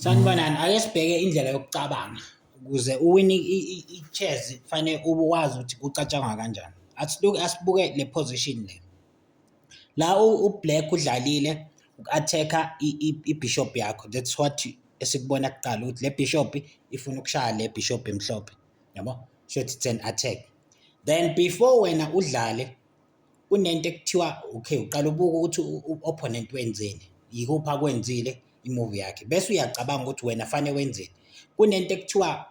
Sanibonani, ake sibheke indlela yokucabanga ukuze uwine i-chess kufanele ube wazi ukuthi kucatshangwa kanjani. Asibuke asibuke le position le. La u-black udlalile uku-attack-a i-bishop yakho that's what esikubona kuqala ukuthi le bishop ifuna ukushaya le bishop emhlophe yabo shuthi it's an attack then before wena udlale Kunento ekuthiwa okay uqala ubuke ukuthi u-opponent wenzeni, yikuphi akwenzile i-move yakhe bese uyacabanga ukuthi wena fanele wenzeni. Kunento ekuthiwa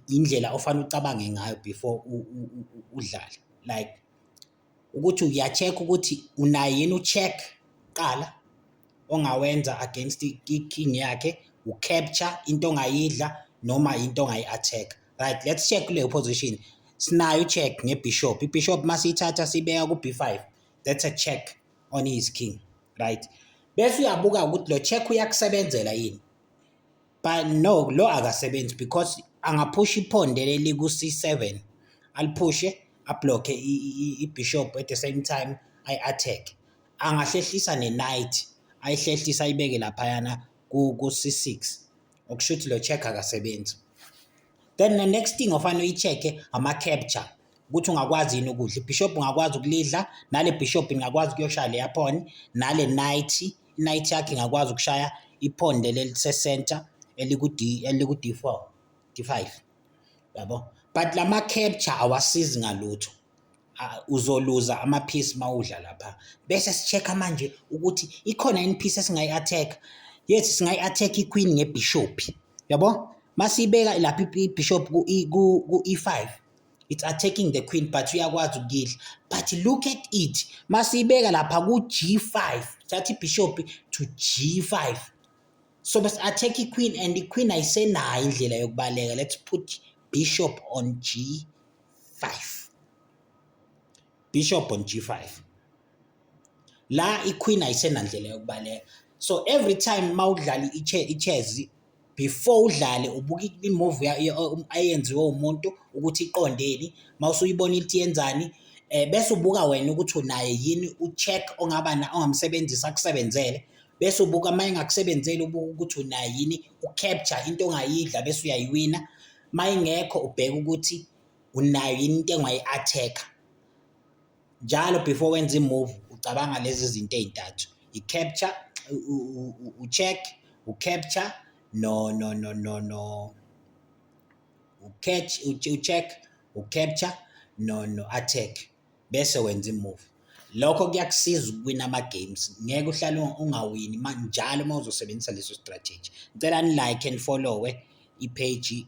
indlela ofanele ucabange ngayo before udlale like ukuthi uya-check ukuthi unayo yini u-check kuqala ongawenza against i-king yakhe, u-capture into ongayidla noma into ongayi-attack-a. Right, let's check kule position. Sinayo check ngebishop. Ibishop masiyithatha sibeka ku b5. That's a check on his king. Right. Bese uyabuka ukuthi lo check uyakusebenzela yini. But no, lo akasebenzi because angaphusha iphonde leli ku c7. Aliphushe ablocke ibishop at the same time I attack. Angahlehlisa ne knight. Ayihlehlisa ibeke laphayana ku ku c6. okusho ukuthi lo check akasebenzi then the next thing ofanele uyi-check-e ama-capture ukuthi ungakwazi yini ukudla ibishop ungakwazi ukulidla nale bishop ingakwazi ukuyoshaya leya phon nale night night yakhe ingakwazi ukushaya iphon leli elisecenter eliku-d eliku-d four d five yabo but la ma-capture awasizi ngalutho ah, uzoluza ama piece mawudla lapha bese si check manje ukuthi ikhona yini piece esingayi attack yes singayi attack i queen nge bishop yabo masibeka lapha i bishop ku e, ku e5 it's attacking the queen but uyakwazi ukuyidla but look at it masibeka lapha ku g5 thatha i bishop to g5 so bes attack i queen and i queen ayisenayo indlela yokubaleka let's put bishop on g bishop on g5 la iqueen ayisenandlela yokubaleka so every time mawudlala ichess before udlale ubuka imove ayenziwe umuntu ukuthi iqondeni mawusuyibona ithi yenzani eh bese ubuka wena ukuthi unaye yini ucheck ongaba na ongamsebenzisa akusebenzele bese ubuka uma engakusebenzeli ubuka ukuthi unaye yini ucapture into ongayidla bese uyayiwina uma ingekho ubheke ukuthi unayo yini into engayi-attack-a njalo before wenza i-move ucabanga lezi zinto ey'ntathu i-capture u-check u-capture no no no no no u-catch u-check u-capture no no-attack bese wenza imove lokho kuyakusiza ukuwina ama-games ngeke uhlale ungawini njalo uma uzosebenzisa leso strategy ngicela ni-like and follow-we ipheji